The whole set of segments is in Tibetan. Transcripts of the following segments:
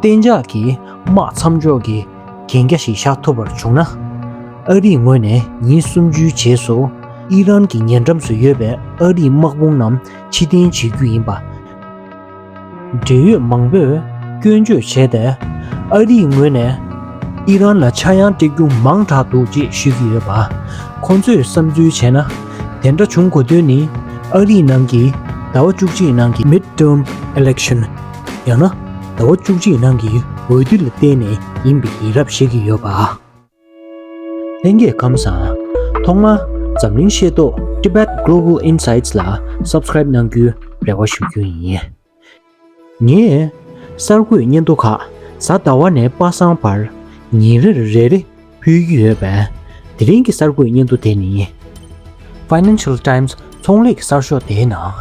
གཏན་འཇགས་ཀྱི་དམག་མཚམས་འཇོག་གི་གན་རྒྱ་ཞིག་བཞག་ཐུབ་པར་བྱུང་ན། ཨ་རིའི་ངོས་ནས་ཉིན་གསུམ་ཅུའི་རྗེས་སུ་ཨི་རན་གྱི་ཉེ་འགྲམ་སུ་ཡོད་པའི་ཨ་རིའི་དམག་དཔུང་རྣམས་ཕྱི་གཏན་བྱེད་རྒྱུ་ཡིན་པ། འབྲེལ་ཡོད་མང་པོས་སྐྱོན་བརྗོད་བྱས་ཏེ་ཨ་རིའི་ངོས་ནས་ཨི་རན་ལ་ཆག་ཡང་སྤྲད་རྒྱུ་མང་དྲགས་འདུག་ཅེས་ཤོད་ཀྱི་ཡོད་པ། ཁོ་ཚོས་བསམ་ཚུལ་བྱས་ན་དེ་འདྲ་བྱུང་དགོས་དོན་ནི་ཨ་རིའི་ནང་གི་ཟླ་བ་བཅུ་གཅིག་ནང་གི Midterm Election། ཡང་ན་ཟླ་བ་བཅུ་གཅིག་ནང་གི་འོས་བསྡུ་ལ་བརྟེན་ནས་ཡིན་པའི་ཡིན་རབས་བཤད་ཀྱི་ཡོད་པ། ལྷན་རྒྱས་ཁམས་བཟང། ཐོག་མར་འཛམ་གླིང་ཤེས་རྟོགས Tibet Global Insights ལ Subscribe གནང་རྒྱུའི་རེ་བ་ཞུ་རྒྱུ་ཡིན། ངས་གསར་འགོད་སྙན་ཐོ་ཁག་གཟའ་ཟླ་བ་ནས་པ་སངས་བར་ཉིན་རེར་རེ་རེ་ཕུལ་གྱི་ཡོད་པས། དེ་རིང་གི་གསར་འགོད་སྙན་ཐོ་དེ་ནི། Financial Times ཚོང་ལས་ཀྱི་གསར་ཤོག་དེའི་ནང།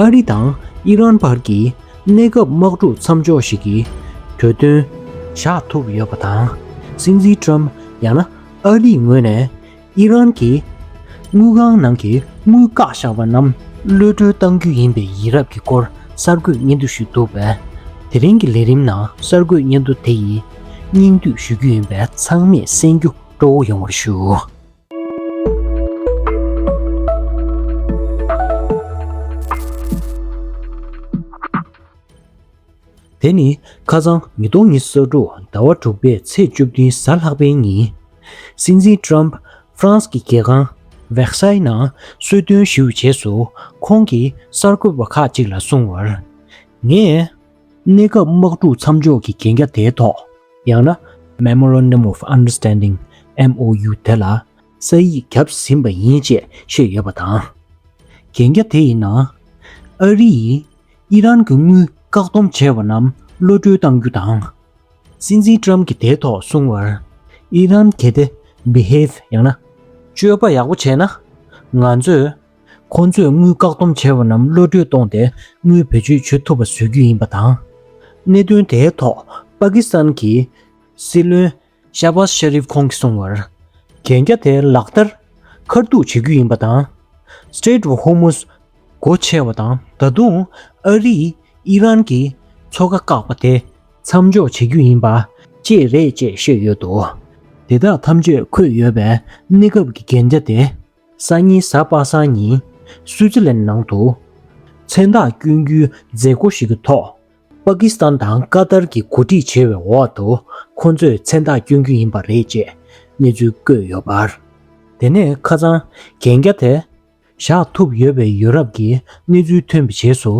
ཨ་རི་དང་ཨི་རན་བར་གྱི་གནས་སྐབས་དམག་འཁྲུག་མཚམས་འཇོག་ཞིག་གི་གྲོས་མཐུན། བཞག་ཐུབ་ཡོད་པ་དང། སྲིད་འཛིན་ཀྲོམ་ཡང་ན་ཨ་རིའི་ངོས་ནས། ཨི་རན་གྱིས་དངུལ་ཁང་ནང་གི་དངུལ་བཀག་བཞག་པ་རྣམས་གློད་བཀྲོལ་གཏང་རྒྱུ་ཡིན་པའི་ཡིན་རབས་ཀྱི་སྐོར་གསར་འགོད་སྙན་ཐོ་ཞུས་འདུག་པས། དེ་རིང་གི་ལས་རིམ་ནང་གསར་འགོད་སྙན་ཐོ་དེ་ཡིས་སྙིང་བསྡུས་ཞུ་རྒྱུ་ཡིན་པས་ཚང་མས་གསན་རྒྱུ་སྤྲོ་བོ་ཡོང་བར་ཞུ། དེ་ནི་ཁ་སང་ཉིས་སྟོང་ཉི་ས་དྲུག་ཟླ་བ་དྲུག་པའི་ཚེས་བཅུ་བདུན་གཟའ་ལྷག་པའི་ཉིན། སྲིད་འཛིན Trump France གི་རྒྱལ་ཁང Versailles ནང་གསོལ་སྟོན་བཞུགས་རྗེས་སུ་ཁོང་གིས་གསར་འགོད་པ་ཁག་ཅིག་ལ་གསུངས་བར། ངས། གནས་སྐབས་དམག་འཁྲུག་མཚམས་འཇོག་གི་གན་རྒྱ་དེའི་ཐོག་ཡང་ན Memorandum of Understanding། MOU། དེ་ལ་ས་ཡིག་བརྒྱབ་ཟིན་པ་ཡིན་ཅེས་བཤད་ཡོད་པ་དང། གན་རྒྱ་དེ་ཡི་ནང་ཨ་རི་ཡིས། ཨི་རན་གྱི་དངུལ་བཀག་སྡོམ་བྱས་པ་རྣམས་གློད་བཀྲོལ་གཏང་རྒྱུ་དང། སྲིད་འཛིན་ཀྲམ་གྱིས་དེའི་ཐོག་གསུངས་བར། ཨི་རན་གལ་ཏེ Behave ཡང་ན། སྤྱོད་པ་ཡག་པོ་བྱས་ན། ང་ཚོས། ཁོ་ཚོས་དངུལ་བཀག་སྡོམ་བྱས་པ་རྣམས་གློད་བཀྲོལ་གཏོང་སྟེ་དངུལ་བེད་སྤྱོད་བྱེད་ཐུབ་པ་བཟོ་རྒྱུ་ཡིན་པ་དང། གནད་དོན་དེའི་ཐོག་པ་ཀི་སི་ཐན་གྱི་སྲིད་བློན། Shahbaz Sharif ཁོང་གིས་གསུངས་བར། གན་རྒྱ་དེ་ལག་བསྟར་མཁར་གཏུགས་བྱེད་རྒྱུ་ཡིན་པ་དང། Strait of Hormuz སྒོ་ཕྱེ་བ་དང་ད་དུང་ཨ་རིས་ཨི་རན་གྱི་མཚོ་ཁ་བཀག་པ་དེ་མཚམས་འཇོག་བྱེད་རྒྱུ་ཡིན་པ་བཅས་རེད་ཅེས་བཤད་ཡོད་འདུག་དེ་དག་ཐམས་ཅད་འཁོད་ཡོད་པའི་གནས་སྐབས་ཀྱི་གན་རྒྱ་དེ་སང་ཉིན་གཟའ་པ་སངས་ཉིན་སུའུ་ཙི་ལན་ནང་དུ་མཚན་རྟགས་བསྐྱོན་རྒྱུའི་མཛད་སྒོ་ཞིག་གི་ཐོག་པ་ཀི་སི་ཐན་དང་ཀ་ཏར་གྱིས་གོ་སྒྲིག་བྱས་པའི་འོག་ཏུ་ཁོ་ཚོས་མཚན་རྟགས་བསྐྱོན་རྒྱུ་ཡིན་པ་རེད་ཅེས་གནས་ཚུལ་བཀོད་ཡོད་པར། དེ་ནས་ཁ་སང་གན་རྒྱ་དེ་བཞག་ཐུབ་ཡོད་པའི་ཡོ་རབ་ཀྱི་གནས་ཚུལ་ཐོན་པའི་རྗེས་སུ་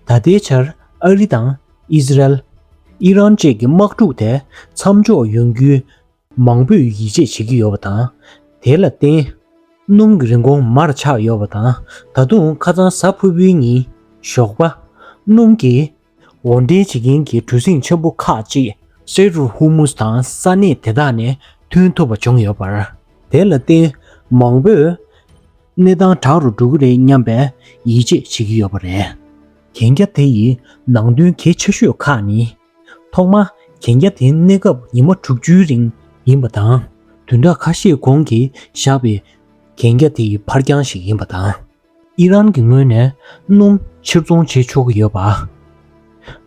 ད་ལྟའི་ཆར་ཨ་རི་དང་ཨི་སི་རལ། ཨི་རན་བཅས་ཀྱི་དམག་འཁྲུག་དེ་མཚམས་འཇོག་ཡོང་རྒྱུའི་མང་པོས་ཡིད་ཆེས་བྱེད་ཀྱི་ཡོད་པ་དང། དེ་ལ་བརྟེན། སྣུམ་གྱི་རིན་གོང་མར་ཆག་ཡོད་པ་དང་ད་དུང་ཁ་རྩང་ཟ་ཕུ་བོའི་གཉིད་ཞོགས་པ། སྣུམ་གྱི། འོར་འདྲེན་བྱེད་མཁན་གྱི་གྲུ་གཟིངས་ཆེན་པོ་ཁག་ཅིག། སེ་རུ་ཧུ་མུས་དང་ས་གནས་དེ་དག་ནས་ཐོན་ཐུབ་པ་བྱུང་ཡོད་པར། དེ་ལ་བརྟེན། མང་པོས། གནས་སྟངས་དྲག་རུ་འགྲོ་གི་རེད་སྙམ་པའི་ཡིད་ཆེས་བྱེད་ཀྱི་ཡོད་པ་རེད། གན་རྒྱ་དེ་ཡི་ནང་དོན་གལ་ཆེ་ཤོས་ཁག་ནི། ཐོག་མར་གན་རྒྱ་དེ་གནས་སྐབས་ཉི་མ་དྲུག་ཅུའི་རིང་ཡིན་པ་དང། དུས་འདའ་ཁ་ཤས་གོང་གི་བཞག་པའི་གན་རྒྱ་དེ་ཡི་འཕར་འགྱངས་ཤིག་ཡིན་པ་དང། ཨི་རན་གྱི་ངོས་ནས་སྣུམ་ཕྱིར་ཚོང་བྱེད་ཆོག་གི་ཡོད་པ།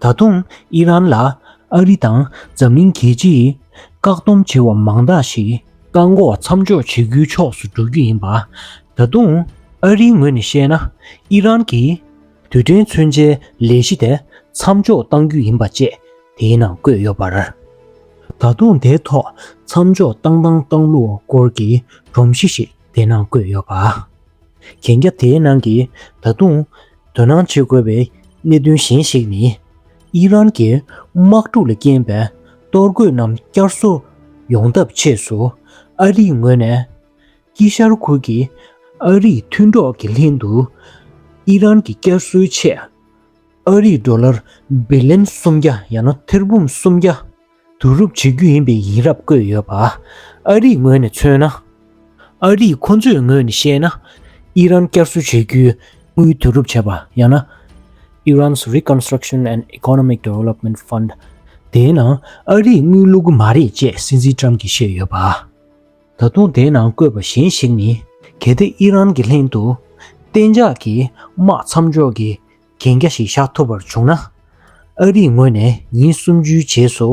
ད་དུང་ཨི་རན་ལ་ཨ་རི་དང་འཛམ་གླིང་རྒྱལ་སྤྱིས་བཀག་སྡོམ་བྱས་བ་མང་དག་ཞིག་བཀག་འགོག་མཚམས་འཇོག་བྱེད་རྒྱུའི་ཕྱོགས་སུ་འགྲོ་རྒྱུ་ཡིན་པ། ད་དུང་ཨ་རིའི་ངོས་ནས་བཤད་ན་ཨི་རན་གྱིས། དུས་དྲན་མཚོན་ཆའི་ལས་གཞི་དེ་མཚམས་འཇོག་གཏང་རྒྱུ་ཡིན་པ་བཅས་དེའི་ནང་བཀོད་ཡོད་པར། ད་དུང་དེའི་ཐོག་མཚམས་འཇོག་གཏང་དང་གཏང་ལུགས་སྐོར་གྱི་སྒྲོམ་གཞི་ཞིག་དེའི་ནང་བཀོད་ཡོད་པ། གན་རྒྱ་དེའི་ནང་གི་ད་དུང་དོ་སྣང་བྱེད་དགོས་པའི་གནད་དོན་གཞན་ཞིག་ནི། དབྱི་རན་གྱི་དམག་འཁྲུག་ལ་རྐྱེན་པས་གཏོར་རྒོལ་རྣམས་བསྐྱར་གསོ་ཡོང་ཐབས་ཆེད་སུ་ཨ་རིའི་ངོས་ནས། ཀྱི་ཤར་ཁུག་གིས་ཨ་རིའི་མཐུན་གྲོགས་ཀྱི་ལྷན་དུ་ཨི་རན་གྱི་བསྐྱར་གསོའི་ཆེད་ཨ་རིའི་ཟློ་ལར་བི་ལན་སུམ་བརྒྱ་ཡང་ན་ཐེར་འབུམ་སུམ་བརྒྱ་བསྡུ་རུབ་བྱེད་རྒྱུ་ཡིན་པའི་ཡིན་རབས་བཀོད་ཡོད་པ། ཨ་རིའི་ངོས་ནས་མཚོན་ན། ཨ་རིས་ཁོ་ཚོའི་ངོས་ནས་བཤད་ན་ཨི་རན་བསྐྱར་གསོ་བྱེད་རྒྱུའི་དངུལ་བསྡུ་རུབ་བྱེད་པ་ཡང་ན Iran's Reconstruction and Economic Development Fund དེའི་ནང་ཨ་རིས་དངུལ་བླུག་གི་མ་རེད་ཅེས་སྲིད་འཛིན་ཀྲམ་གྱིས་བཤད་ཡོད་པ། ད་དུང་དེའི་ནང་བཀོད་པ་གཞན་ཞིག་ནི་གལ་ཏེ་ཨི་རན་གྱི་ལྷན་དུ་གཏན་འཇགས་ཀྱི་དམག་མཚམས་འཇོག་གི་གན་རྒྱ་ཞིག་བཞག་ཐུབ་པར་བྱུང་ན། ཨ་རིའི་ངོས་ནས་ཉིན་གསུམ་བཅུའི་རྗེས་སུ་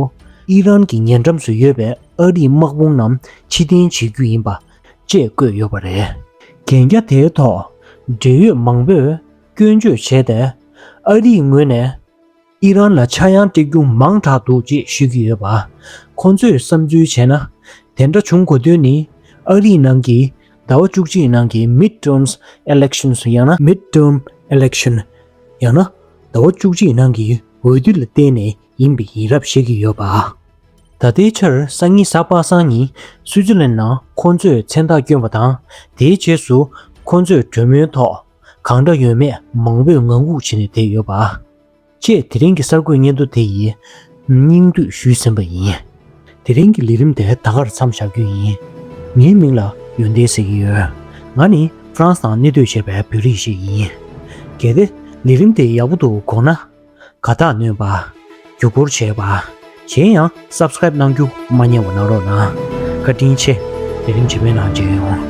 ཨི་རན་གྱི་ཉེ་འགྲམ་སུ་ཡོད་པའི་ཨ་རིའི་དམག་དཔུང་རྣམས་ཕྱི་འཐེན་བྱེད་རྒྱུ་ཡིན་པ་བཅས་བཀོད་ཡོད་པ་རེད། གན་རྒྱ་དེའི་ཐོག་འབྲེལ་ཡོད་མང་པོས་སྐྱོན་བརྗོད་བྱས་ཏེ་ཨ་རིའི་ངོས་ནས། ཨི་རན་ལ་ཆག་ཡང་སྟེགས་རྒྱུ་མང་དྲགས་འདུག་ཅེས་ཤོད་ཀྱི་ཡོད་པ། ཁོང་ཚོས་བསམ་ཚུལ་བྱས་ན། དེ་འདྲ་བྱུང་དགོས་དོན་ནི། ཨ་རིའི་ནང་གི་ཟླ་བ་བཅུ་གཅིག་ནང་གི Midterms Elections ཡང་ན Midterm Election ཡང་ན་ཟླ་བ་བཅུ་གཅིག་ནང་གི་འོས་བསྡུ་ལ་བརྟེན་ནས་ཡིན་པ་ཡིན་རབས་བཤད་ཀྱི་ཡོད་པ། ད་ལྟའི་ཆར་སང་ཉིན་གཟའ་པ་སངས་ཉིན་སུའུ་ཙི་ལན་ནང་ཁོང་ཚོས་མཚན་རྟགས་བསྐྱོན་པ་དང་དེའི་རྗེས་སུ་ཁོང་ཚོས་གྲོས་མོལ་ཐོག་གང་འདྲ་ཡོད་མེད་མང་པོས་ངང་སྒུག་བྱེད་ནས་བསྡད་ཡོད་པ། ཅེས་དེ་རིང་གི་གསར་འགོད་སྙན་ཐོ་དེ་ཡི་སྙིང་བསྡུས་ཞུས་ཟིན་པ་ཡིན། དེ་རིང་གི་ལས་རིམ་དེ་ད་གར་མཚམས་བཞག་རྒྱུ་ཡིན། ངའི་མིང་ལ་ཡོན་ཏན་ཟེར་གྱི་ཡོད། ང་ནི་ཧྥ་རན་སི་ནང་གནས་སྡོད་བྱས་པའི་བོད་རིགས་ཤིག་ཡིན། གལ་ཏེ་ལས་རིམ་དེ་ཡག་པོ་འདུག་དགོངས་ན། དགའ་རྟགས་ནོན་པ། བརྒྱུད་སྐུར་བྱེད་པ། གཞན་ཡང Subscribe གནང་རྒྱུ་མ་བསྙེལ་བ་གནང་རོགས་གནང་བཀའ་དྲིན་ཆེ་ལས་རིམ་ཇི་མེད་ནང་མཇལ་ཡོང།